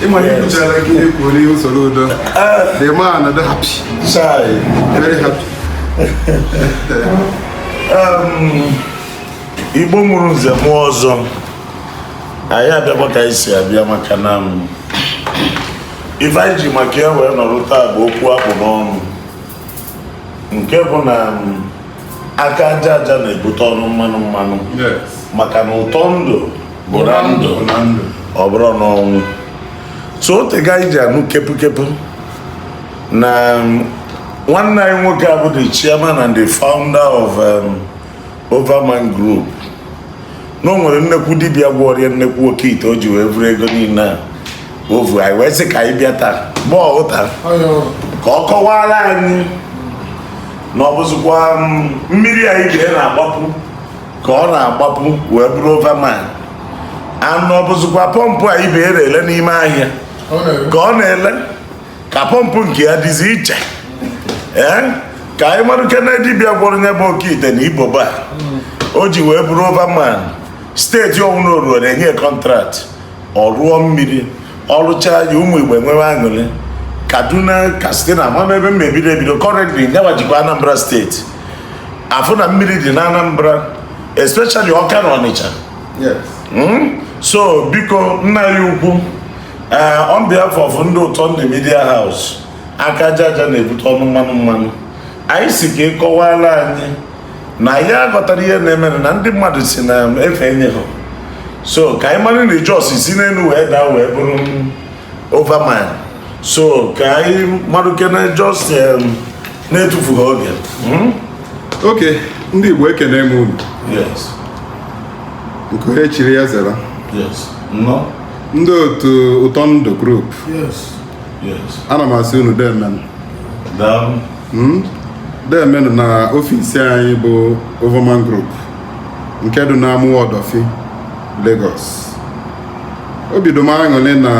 ịmara ikwuchara gị ekwu onye usoro udo the man a dị happy very happy igbo mụrụ nze mụọ ọzọ anyị abịakwa ka anyị si abịa maka na ife anyị ji maka ya wee nọrọ taa bụ okwu akpụ n'ọnụ nke bụ na aka aja aja na-ebute ọnụ mmanụ mmanụ maka na ụtọ ndụ bụ na ndụ ọ bụrọ n'ọnwụ so o tego anyị ji anụ kepukepu na nwanne anyị nwoke a bụ the chairman and the founder of um, Overman Group na o nwere nnekwu dibịa gwọrọ ya nnekwu oke ite o ji wee vuru ego niile a o vu anyị wee sị ka anyị bịa taa bụ taa ka ọ kọwaara anyị na ọ bụzikwa mm, mmiri a ibe ya na-agbapu ka ọ na-agbapu wee bụrụ Overman and na ọ bụzikwa pọmpụ a ibe ya na-ele n'ime ahịa ka ọ na-ele ka pọmpụ nke ya dịzi iche ee ka anyị marakene dibịa gwọrọ nya bụ oke ite na ibobo a o ji wee bụrụ overman steeti ọwụna o ruo na-enye kọntraktị ọ rụọ mmiri ọ rụcha ya ụmụ igbo enwewe aṅụrị kaduna katsina ama m ebe m ebido ebido currently nyawa jikwa anambra steeti afụ na mmiri dị na anambra especially ọka na ọnịcha hmm? so biko nna anyị ukwu ee on behalf of ndị ụtọ ndụ media house aka aja aja na-ebute ọnụ mmanụ mmanụ anyị sị ka ị kọwala anyị na anyị aghọtarọ ihe na-eme na ndị mmadụ sị na efe enye ha so ka anyị mara na just si n'elu wee daa wee bụrụ overman so ka anyị marụkene just na-etufughị oge hmm? ok ndị igbo ekene m unu nke onye chiri ya zara nnọọ ndị otu ụtọ ndụ group ana m asị unu deemenụ hmm? deemenụ na ofisi anyị bụ Overman Group nke dị n'Amuwo Odofin Lagos obi dị m aṅụrị na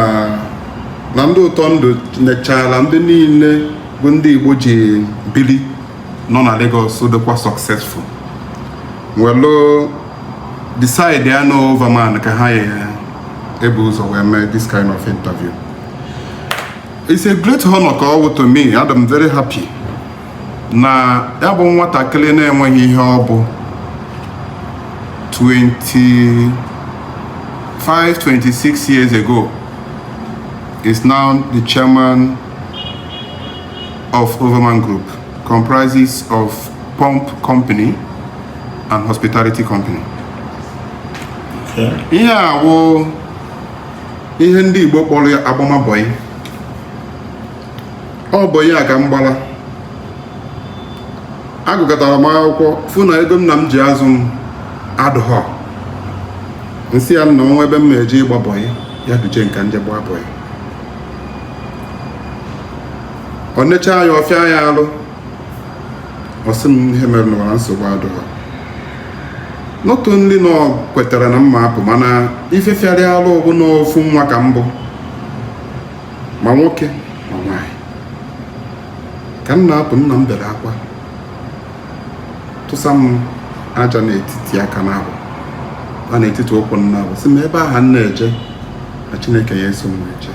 na ndị ụtọ ndụ nechara ndị niile bụ ndị Igbo ji bili nọ na Lagos dịkwa successful welu decide ya na Overman ka ha ya ebu ụzọ wee mee this kind of interview it's a great honor ka ọ wụ to me adị m very happy na ya bụ nwatakịrị na-enweghị ihe ọ bụ 25 26 years ago is now the chairman of Overman Group comprises of pump company and hospitality company ihe a wụ ihe ndị Igbo kpọrọ ya agbamabọyị ọ bụ ya ka m gbara agụgatara m akwụkwọ fụ na ego nna m ji azụ m adụghọ m sị ya nna nwa ebe m ma-eje ịgba bọyị ya duje m ka m je gbaa bọyị ọ nechaa ya ọ fịa ya alụ ọ sị m ihe mere n'ụwa nsogbu adụghọ not only na ọ kwetara na m ma-apụ mana ife fịara ya alụ bụ na ofu nwa ka m bụ ma nwoke ma nwaanyị ka m na-apụ nna m bere akwa tụsa m aja n'etiti aka naabọ na n'etiti ụkwụ naabọ sị m ebe aha m na-eje na chineke ya-eso m eje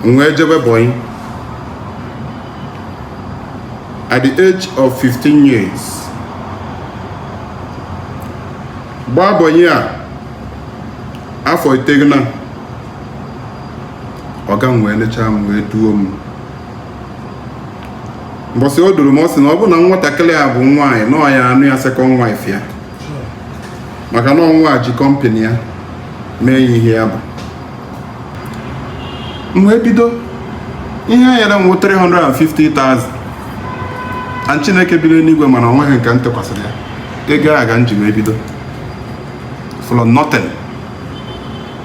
m wee jebe bọyị at the age of 15 years gbaa bọyị a afọ iteghete ọga m wee lechaa m wee duo m mbọsị o duru m ọ sị na ọ bụ na nwatakịrị a bụ nwaanyị na ọ ya-anụ ya second wife ya maka na ọnwa ji company ya mee ihe ya bụ m wee bido ihe a nyere m 350,000 and Chineke biri n'igwe ma na ọ nweghị nke m tụkwasịrị ya ego a ka m ji wee bido from nothing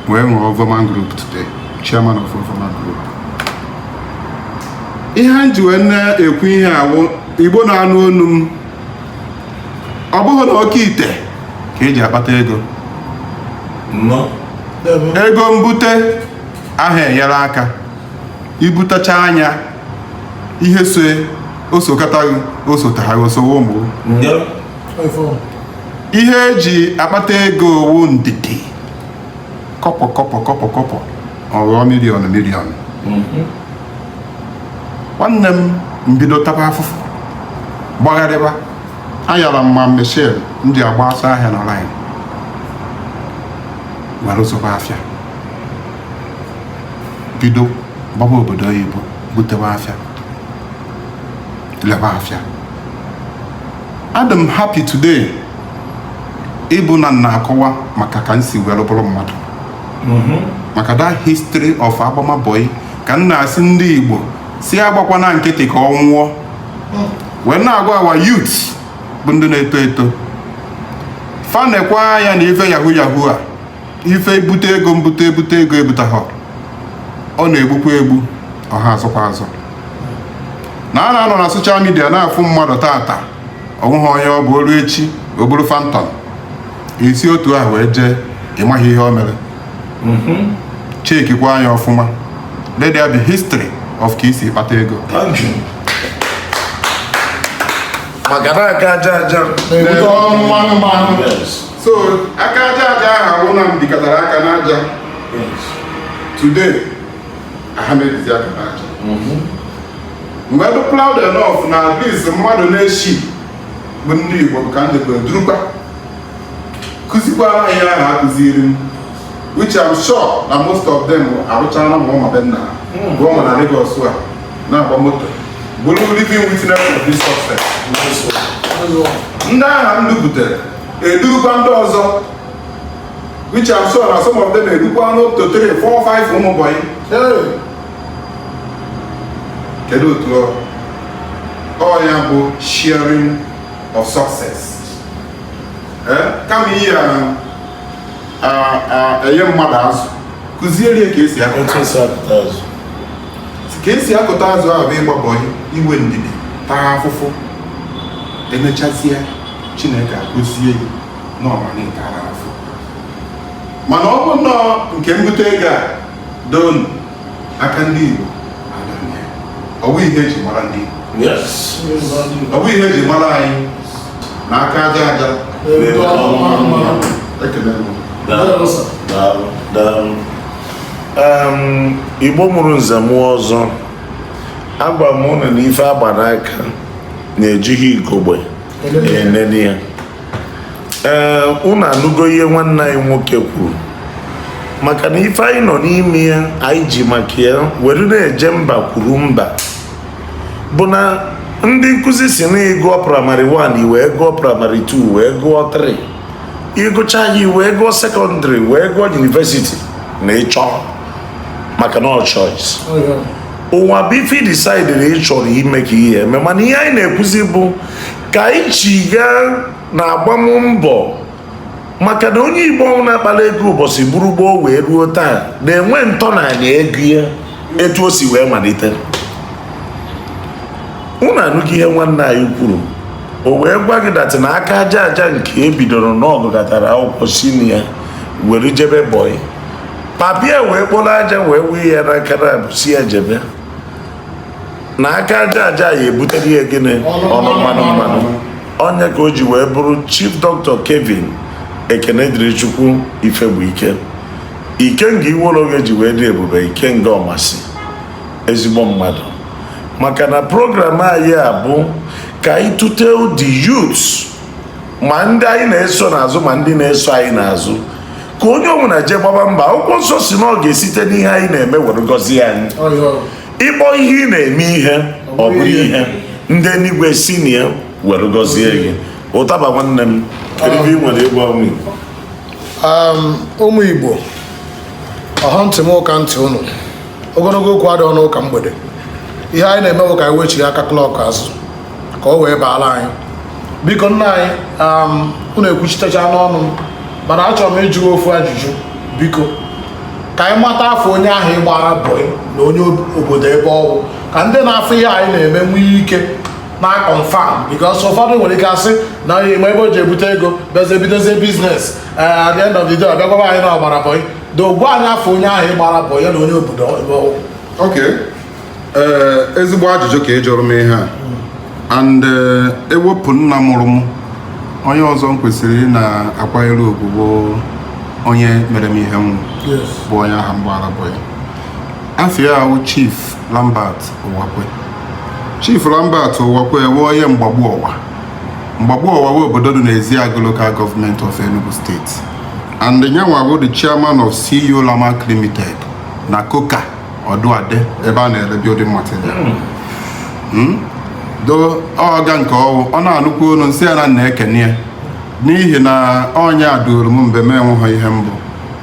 wee nwee Overman Group today chairman of Overman Group ihe m ji wee na-ekwu ihe a wụ Igbo na-anụ onu m ọ bụghị na oke ite ka eji akpata ego ego mbute aha enyere aka ibutacha anya ihe so osokọtaghị osotaghaghị osowo mgbu ihe eji akpata ego wụ ndidi kobo kobo kobo kobo ọ ghọọ million million nwanne m m bido taba afụfụ gbagharịba ayọrọ m ma mechel ndị agba ọsọ ahịa na line were zụba afịa bido gbaba obodo oyibo butewa afịa leba afịa adị m happy today ịbụ na m na-akọwa maka ka m si were bụrụ mmadụ mhm. maka that history of agbama boy ka m na-asị ndị Igbo sị agbakwana nkịtị ka ọ nwụọ mm. wee na-agwa our youth bụ ndị na-eto eto fa nekwa anya na ife yahoo yahoo a ife ibute ego mbute ebute ego ebutahọ ọ na-egbukwa egbu ọ ha azụkwa azụ na a na-anọ na social media na-afụ mmadụ tata o nweghị onye ọ bụ o luo echi o buru Phantom i si otu ahụ wee jee ịmaghị ihe o mere mhm. chekikwa anya ọfụma let there be history of ka i si kpata ego maka na aka aja aja so aka aja aja ahụ a wụ na m bikatara aka n'aja today aha m ebizi aka n'aja mhm. m wee be proud enough na at least mmadụ n'ishii bụ ndị Igbo ka m jekwa durukwa kụzikwara ihe ahụ a kụziri m which I'm sure na most of them arụchara ma ụnọ be nna hmm. rụọ ma na Lagos a na-agba moto bụrụ living witness of this success ndị ahụ m duputere edurukwa ndị ọzọ which I'm sure na some of them edukwana two three four five ụmụ bọyị kedu otu ọ ọ ya bụ sharing of success eh? kama ị ya-enye mmadụ azụ kụziere ya ka e si akụta azụ ka e si akụta azụ ahụ bụ ịgba bọyị i nwee ndidi taa afụfụ e mechazie chineke agọzie gị mana ọ bụ nnọọ nke mbute ego a dị n'aka ndị Igbo ọ bụ ihe eji mara ndị ọ bụ ihe eji mara anyị na aka aja aja Igbo mụrụ nze mụọ ọzọ agwa m unu na ife a gba n'aka na ejighị ugogbe enene ya ee unu anụgo ihe nwanne anyị nwoke kwuru maka na ife anyị nọ n'ime ya anyị ji maka ya were na-eje mba kwuru mba bụ na ndị nkụzi si na ị gụọ praịmarị 1 i wee gụọ praịmarị 2 wee gụọ 3 ị gụcha ya i wee gụọ sekọndịrị wee gụọ yunivesiti na ịchọ maka na ọ choice ụwa bụ ife decide na ị chọrọ ime ka ihe eme mana ihe anyị na-ekwuzi bụ ka anyị chigha na agbammbọ maka na onye igbo ọwụna kpara ego ụbọchị buru gboo wee ruo taa na-enwe ntọala ego ya etu o si wee malite unu anụghị ihe nwanne anyị kwuru o wee gwa gị that na aka aja aja nke e bidoro na ọ gụkatara akwụkwọ si na ya were jebe bọị papa ya wee kporo aja wee wee ya n'aka na-asị ya jebe na aka aja aja ya ebutere ya gịnị ọnụ mmanụ mmanụ ọ nya ka o ji wee bụrụ chief dọkịta Kevin Ekenedịrịchukwu Ifegbuike Ikenga Iwollo Oghe ji wee dị ebube Ikenga Ọmasi ezigbo mmadụ maka na program anyị a bụ ka anyị tụte ndị youths ma ndị anyị na-eso n'azụ ma ndị na-eso anyị n'azụ ka onye ọbụla jee gbaba mbọ akwụkwọ nsọ sị na ọ ga-esite n'ihe anyị na-eme were gọzie anyị ị kpọọ ihe ị na-eme ihe ọ bụrụ ihe ndị eluigwe si na ya were gọzie gị ụtaba nwanne m kedu ihe ị nwere ịgwa ụmụ Igbo um, ụmụ Igbo ọha ntị m ụka ntị ụnụ ogologo okwu adịghị n'ụka mgbede ihe anyị na-eme bụ ka anyị wechigha aka klọk azụ ka o wee baara anyị biko nna anyị um, unu ekwuchitecha n'ọnụ mana achọrọ m ịjụ ofu ajụjụ biko ka anyị mata afa onye ahụ ị gbara bọị na onye obodo ebe ọ wụ ka ndị na-afụ ihe anyị na-eme nwee ike na-confirm because ụfọdụ nwere ike asị na onye ma ebe o ji ebute ego bịazie bidozie biznes eh, at the end of the day ọ bịa gwaba anyị na ọ gbara bọị do gwa anyị afa onye ahụ ị gbara bọị ya na onye obodo ebe ọ wụ okay ee ezigbo ajụjụ ka ị jụrụ m ihe a and eh, ewepụ nna mụrụ m onye ọzọ m kwesịrị ịna-akwanyere ugwu bụ onye mere m ihe m wụ yes bụ onye ahụ m gbara bọị ya afa ya wụ chief lambert ụwakwe chief lambert ụwakwe bụ onye mgbagbu ọwa mgbagbu ọwa bụ obodo dị n'ezeagụ local government of enugu state and nyanwa bụ the chairman of ceo lamak limited na coker Odunade ebe a na-ere building material hmm. Hmm? though ọga nke ọ wụ ọ na-anụkwa olu m sị ya na m na-ekene ya n'ihi na ọ nya duru m mgbe m enweghị ihe m bụ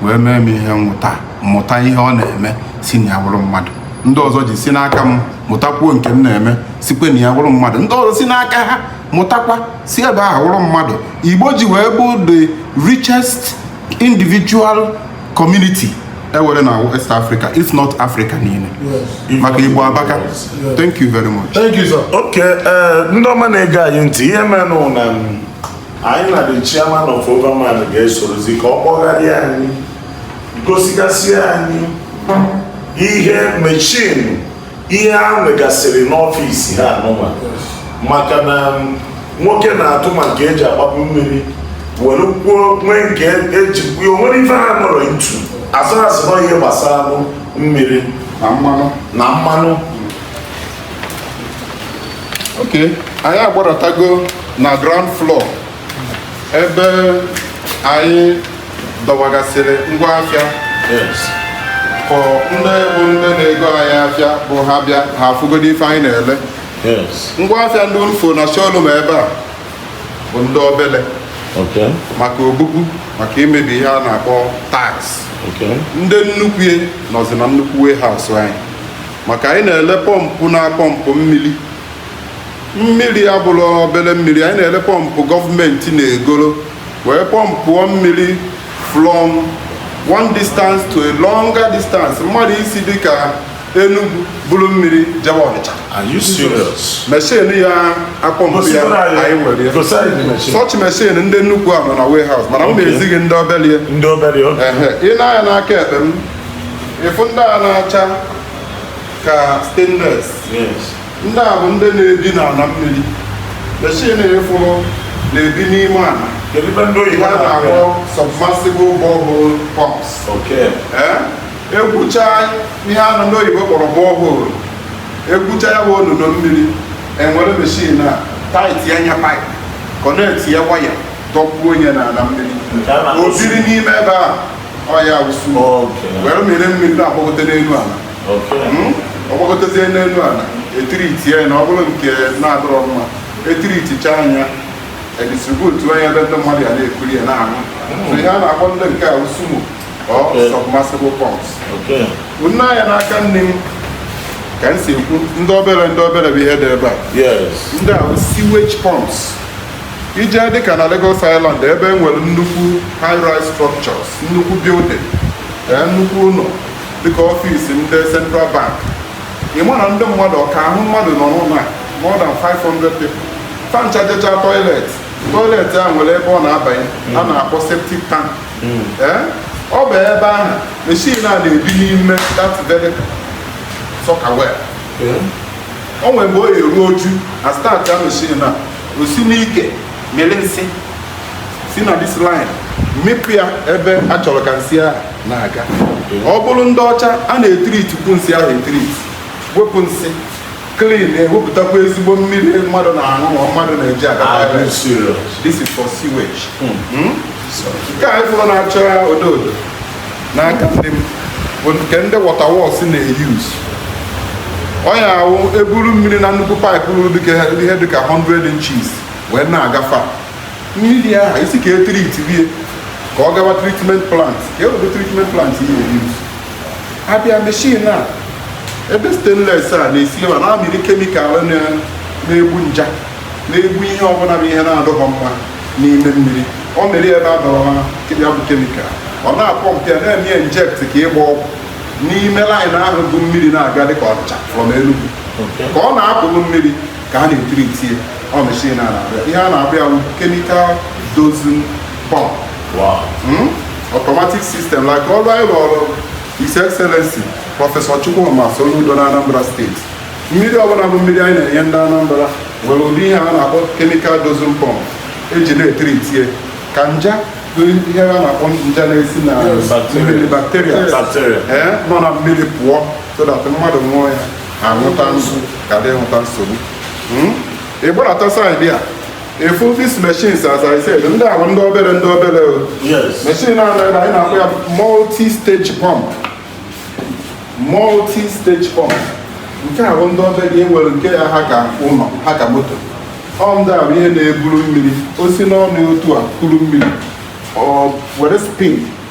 wee mee m ihe mụta mụta ihe ọ na-eme si na ya wụrụ mmadụ ndị ọzọ ji si n'aka m mụtakwuo nke m na-eme sikwe na ya wụrụ mmadụ ndị ọzọ si n'aka ha mụtakwa si ebe ahụ wụrụ mmadụ igbo ji wee bụ the richest individual community e nwere na West Africa if not Africa niile maka Igbo abaka thank you very much thank you sir okay eh, ndị ọma na-ege anyị ntị ihe menụ na anyị na the chairman of Overman ga-esorozi ka ọ kpọgharịa anyị gosigasị anyị ihe meshin ihe ha nwegasịrị n'ọfịs ha anụnwa maka na nwoke na-atụ ma nke eji agbapụ mmiri were kwuo nwee nke eji kwuo nwere ife ha nọrọ itu asụghasị nọ ihe gbasaranụ mmiri na mmanụ okay anyị agbaratago na ground floor ebe anyị dọwagasịrị ngwa afịa ka ndị bụ ndị na-ego anyị afịa bụ ha bịa ha afụgodo ife anyị na-ele ngwa afịa ndị ị fụ na showroom ebe a bụ ndị obele maka obubu maka imebi ihe a na-akpọ tiles ndị nnukwu ya nọzi na nnukwu warehouse anyị maka anyị na-ele pọmpụ na-apọmpụ mmiri mmiri abụrọ obere mmiri anyị na-ele pọmpụ gọọmenti na-egoro wee pọmpụọ mmiri from one distance to a longer distance mmadụ isi dịka Enugu buru mmiri jewe Ọnịcha meshin ya-apọmpụ ya anyị nwere such meshin ndị nnukwu a nọ na warehouse mana m na-ezi gị ndị obere i nee anya n'aka ekpe m ị fụ ndị a na-acha ka stainless ndị a bụ ndị na-ebi n'ala mmiri meshin ị fụrụ na-ebi n'ime ala Kedu ife ndị oyibo ya na-akpọ na-akpọ ya? submersible borehole pumps Okay. Ee, egwucha ihe anụ ndị oyibo kpọrọ borehole egwucha ya bụ olulu mmiri e were meshin a tight ya na pipe connect ya waya dọkpuo nye n'ala mmiri Nke a na-akpọ o biri n'ime ebe a ọ ya wụsu Okay. were mmiri mmiri na-agbagote n'elu ala hmm? ọ gbagotezie n'elu ala e treat ya na ọ bụrụ nke na-adịrọ mma e treatchaa nya e distributuo nya ebe ndị mmadụ ya na-ekuri ya na-aṅụ hmm. ihe a na-akpọ ndị nke a wụ sumo or submersible pumps nee anya n'aka nni m ka m si ekwu ndị obere ndị obere bụ ihe dị ebe a ndị a wụ sewage pumps i je dịka na Lagos Island ebe e nwere nnukwu high-rise structures nnukwu building eh, nnukwu ụlọ dịka ọfịs ndị Central Bank ị ma na ndị mmadụ ọka ahụ mmadụ nọ n'ụlọ a more than 500 people fa ncha jechaa toilet toilet a nwere ebe ọ na-abanye a na-akpọ septic tank Ee, ọ bụ ebe ahụ machine a na-ebi n'ime that very soakaway o nwere mgbe o eruo oju a start ya machine a o si n'ike mịrị nsị si na this line mịpụ ya ebe a chọrọ ka nsị ahụ na-aga ọ bụrụ ndị ọcha a na-etiritikwu nsị ahụ etiritie wepụ nsị clean ewepụtakwa ezigbo mmiri mmadụ na-aṅụ ma mmadụ na-eji aga Ah, toilet. this serious. this is for sewage Hmm? nke a ị fụrụ na-acha odo odo n'aka nri m bụ nke ndị water works na-eyuz ọ ya wụ e buru mmiri na nnukwu paịpụ ruru dịka ihe dịka 100 inches wee na-agafe mmiri ahụ isi ka e tiritie ka ọ gawa treatment plant ka ewebe treatment plant ihe eyuz a bịa machine a ebe stainless a na-esi n'ime na-amịrị kemikal na-egbu nje na-egbu ihe ọbụla bụ ihe na-adịghọ mma n'ime mmiri o nwere ebe a dọrọ ya bụ kemikal ọ na-apọmpụ ya na-eme inject ka ịgba ọgwụ n'ime line ahụ bu mmiri na-aga dịka ọnịcha from Enugu ka ọ na-apụghị mmiri ka a na-etiritie ọ machine a na-abịa ihe a na-akpọ ya bụ chemical dosing pump Hmm? automatic system like ọrụ anyị rụọrụ His Excellency Prọfesọ Chukwuma Soludo na Anambra steeti mmiri ọbụla bụ mmiri anyị na-enye ndị Anambra nwere ụdị ihe a na-akpọ chemical dosing pump e ji na-etiritie ka nje bụ ihe a na-akpọ nje na-esi na Bacteria. mmiri bacteria Bacteria. ee nọ na mmiri pụọ so that mmadụ ṅụọ ya aṅụta nso ghara ịṅụta nsogbu hmm? ị gbarata side a ị fụ these machines as I said ndị a wụ ndị obere ndị obere machine a na-ebe anyị na-akpọ ya multi stage pump multi stage pump nke a wụ ndị obere e nwere nke ya ha ka ụlọ ha ka moto ọ ndị a wụ ihe na-eburu mmiri o si n'ọnụ otu a kuru mmiri ọ were spin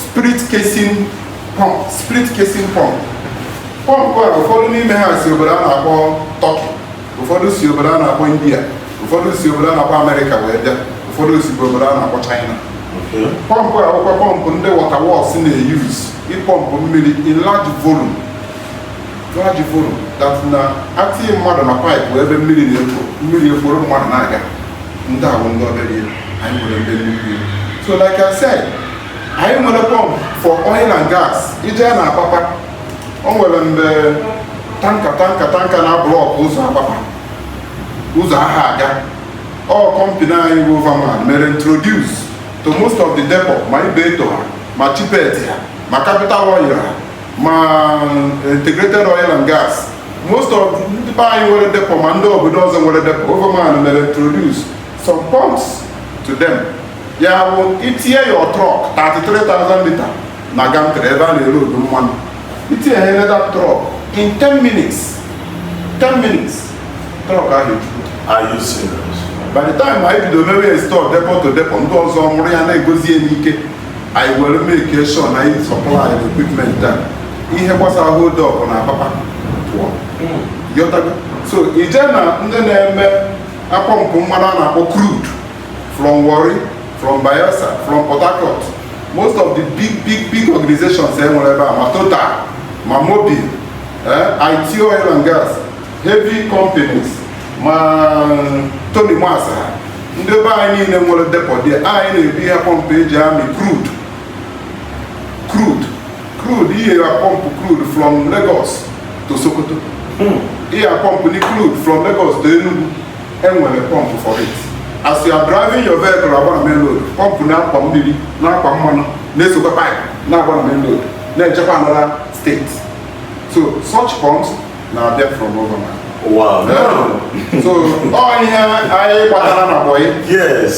split casing pump split casing pump pọmpụ a ụfọdụ n'ime ha si obodo a na-akpọ Turkey ụfọdụ si obodo a na-akpọ india ụfọdụ si obodo a na-akpọ amerịka wee bịa ụfọdụ si obodo a na-akpọ china pọmpụ a bụkwa pọmpụ ndị water works na-eyuz ịpọmpụ mmiri in large volume large volume that na a tinye mmadụ na paịpụ ebe mmiri na-ekwo mmiri ekworo mmadụ na-aga ndị a wụ ndị obere ihe anyị nwere ndị nnukwu so like I said anyị nwere pọmp for oil and gas ị je na Apapa o nwere mgbe tanka tanka tanka na-ablọk ụzọ Apapa ụzọ aha aga ọ kọmpini anyị bụ Overman mere introduce to most of the depot ma Ibeto ha ma Chipet ha ma Capital Oil ha ma Integrated Oil and Gas most of ndị be anyị nwere depot ma ndị obodo ọzọ nwere depot Overman mere introduce some pumps to them ya bụ itinye your truck 33,000 liter na gantry ebe a na-elodu mmanụ itinye ha ebe that truck in 10 minutes 10 minutes truck ahụ ejuru Are you serious? by the time anyị bido mewe install depot to depot ndị ọzọ hụrụ ya na-egozi ya n'ike anyị were make sure na anyị supply the equipment a ihe gbasara hold up na Apapa pụọ Ị ghọtago. so ị je na ndị na-eme apọmpụ mmanụ a na-akpọ crude from Warri from Bayelsa from Port Harcourt most of the big big big organizations e nwere ebe a ma Total ma Mobil eh, Aiteo oil and gas heavy companies ma mm, Tonimas ha ndị be anyị niile nwere depot anyị na-ebu ihe pọmpụ eji amị crude crude ihe ya pọmpụ crude from Lagos to Sokoto hmm. ihe ya pọmpụ ni crude from Lagos to Enugu enwere pọmpụ for it as you are driving your vehicle agba na main road pọmpụ na-akwa mmiri na-akwa mmanụ na-esokwa pipe na-agba na main road na-ejekwa another state so such pumps na-abịa from Overman Wow. Yeah. so ọ ihe anyị gbatara na bọyị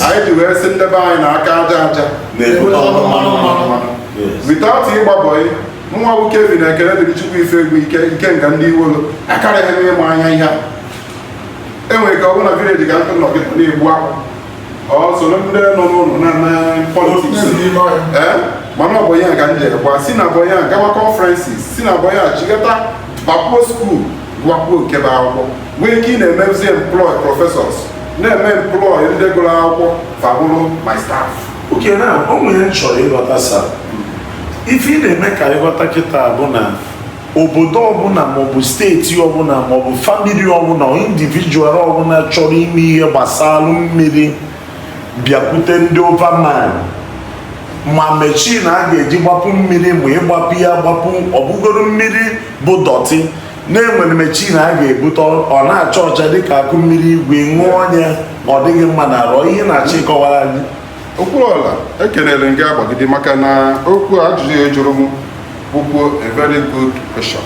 anyị ji wee sị nde be anyị na aka aja aja na-ebute ọnụ mmanụ mmanụ without ịgba bọyị nwa bụ Kelvin Ekenedirichukwu Ifegwuike Ikenga ndị Iwollo akarịghị m ịma anya ihe a enwere ka ọ bụrụ na vileji ga ntụ nọ kịta na-egbu akwụ ọ soro ndị nọ n'ụlọ na-ana politiks mana ọ bọyị ka m ji gbaa si na bọyị gawa conferences si na bọyị chigata bakwuo skuul gụkwuo nke bụ akwụkwọ nwee ike ị na-emezi employ professors na-eme employ ndị gụrụ akwụkwọ fa abụrụ my staff okay now o nwere m chọrọ ịghọta sa ife ị na-eme ka anyị ghọta kịta bụ na obodo ọbụla maọbụ steeti ọbụla maọbụ famili ọbụla individual ọbụla chọrọ ime ihe gbasara mmiri bịakwute ndị Overman ma mechin a ga-eji gbapu mmiri ma ị gbapu ya gbapu ọ bụgoro mmiri bụ dọtị na e nwere mechin a ga-ebute ọ na-acha ọcha dịka akụ mmiri igwe ṅụọ onye ọ dịghị mma na arụ ihe na-achọ ịkọwara anyị okwuruọra ekelere m gị agbagide maka na okwu ajụjụ ị jụrụ m bụkwu a very good question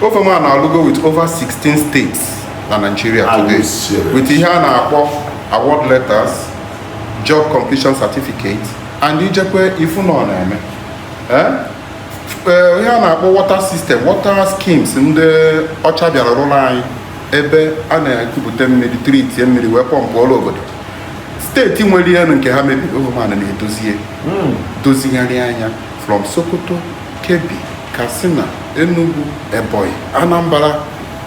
overman alụgo with over 16 states na Nigeria today with ihe a na-akpọ award letters job completion certificate and i jekwaa ị fụ na ọ na-eme eh? ee ihe a na-akpọ water system water schemes ndị ọcha bịara rụọrọ anyị ebe a na-ekupụta mmiri treatie mmiri wee pọmpụọrọ obodo steeti nwere ihe nke ha mebiri overman na-edozie hmm. dozigharịa nya from sokoto kebbi katsina enugu ebonyi anambra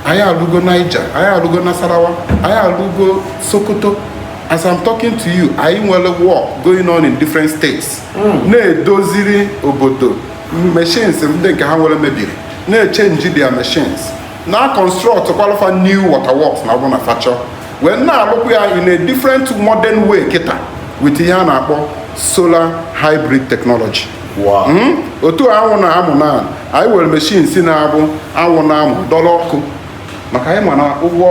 anyị alụgo niger anyị alụgo nasarawa anyị alụgo sokoto as i'm talking to you anyị nwere work going on in different states hmm. na-edoziri obodo machines ndị nke ha nwere mebiri na-echange their machines na-construct kwalụ fa new water works na ọ bụ na fa chọọ wee na-alụkwa ya in a different modern way kịta with ihe a na-akpọ solar hybrid technology hmm? otu anwụ na-amụ na anyị nwere machines na-abụ anwụ na-amụ dọrọ ọkụ maka anyị ma na ụgwọ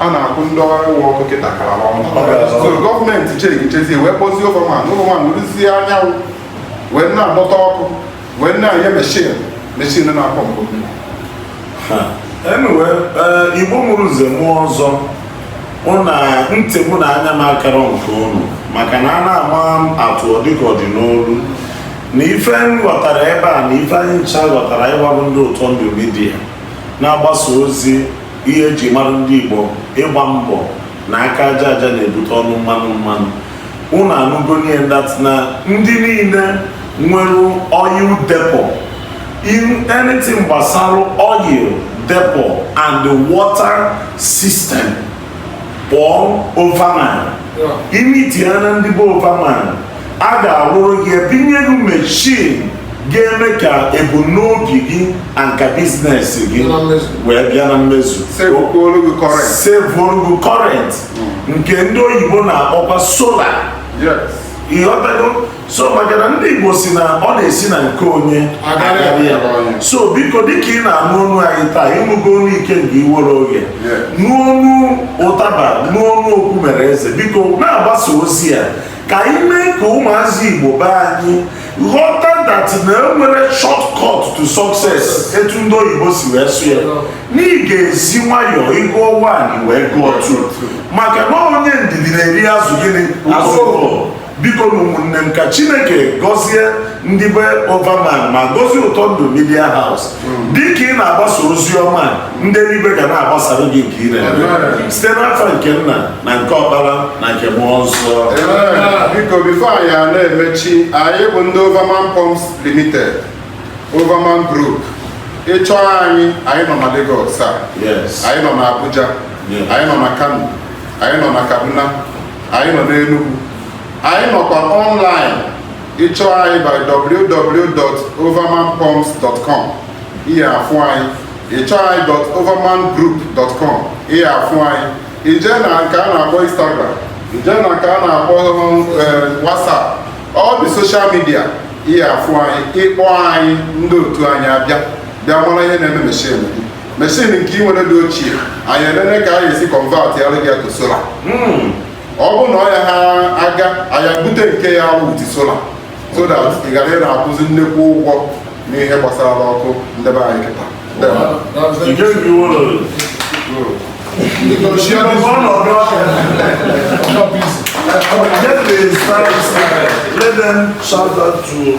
a na-akwụ ndị ọrụ ụgwọ ọkụ kịta gara ọnụ so gọọmenti chere chezie wee kpọzie overman overman rụzie anyanwụ wee na-adọta ọkụ wee na-enye meshin meshin na-apọmpụ anyway eh, igbo mụrụ nze mụọ ọzọ na ntị mụ na anya m akarọ nke unu maka na a na-ama atụ ọ dịka ọ dị n'olu na ife m ghọtara ebe a na ife anyị ncha ghọtara ịgbabụ ndị ụtọ ndụ media na-agbasa ozi ihe eji mara ndị Igbo ịgba mbọ na aka aja aja na-ebute ọnụ mmanụ mmanụ unu anụgo niile that na ndị niile nwere oil depot anything gbasara oil depot and the water system kpọọ overman i meetia na ndị be overman a ga-arụrụ gị etinyere gị mechin ga-eme ka ebumnobi gị and ka business gị wee bịa na mmezu sevuoru gị current hmm. nke ndị oyibo na-akpọkwa solar ịghọtago so maka na ndị igbo si na ọ na-esi na nke onye agara ya so biko dịka ị na-anụ ọnụ anyị taa ịnụgo ọnụ ike nke iwere oge n'ọnụ ụtaba n'ọnụ okwu mere eze biko na-agbasa ozi ya ka anyị mee ka ụmụazị igbo be anyị ghọta that na enwerọ shortcut to success etu ndị oyibo si wee sụ ya na ị ga-esi nwayọọ ị gụọ one ị wee gụọ two maka na onye ndidi na-eri azụ gịnị azụ bikonụ ụmụnne m ka chineke gọzie ndị be Overman ma gọzie Ụtọndụ Media House hmm. dịka ị na-agbasa ozi ọma ndị eluigwe ga na-agbasara gị nke ire site n'afa nke nna na nke ọkpara na nke mmụọ nsọ biko before anyị na-emechi anyị bụ ndị Overman Pumps Limited Overman Group ị chọọ anyị anyị nọ na Lagos a anyị nọ na Abuja anyị nọ na Kano anyị nọ na Kaduna anyị nọ n'Enugu anyị nọkwa online ị chọọ anyị bịa www.overmanpumps.com ị ya-afụ anyị ị chọọ anyị overmangroup.com ị ya-afụ anyị i je na nke a na-akpọ instagram i je na nke a na-akpọ eh, whatsapp all the social media ị ya-afụ anyị ị kpọọ anyị ndị otu anyị abịa bịa mara ihe na-eme machine gị machine nke ị nwere dị ochie anyị elele ka anyị esi convert ya gaa to solar hmm. ọ bụ na ọ ya ha aga anyị bute nke ya with solar so that ị ghara ịna-akwụzi nnekwu ụgwọ n'ihe gbasara ọkụ ndị be anyị kịta Let them shout out to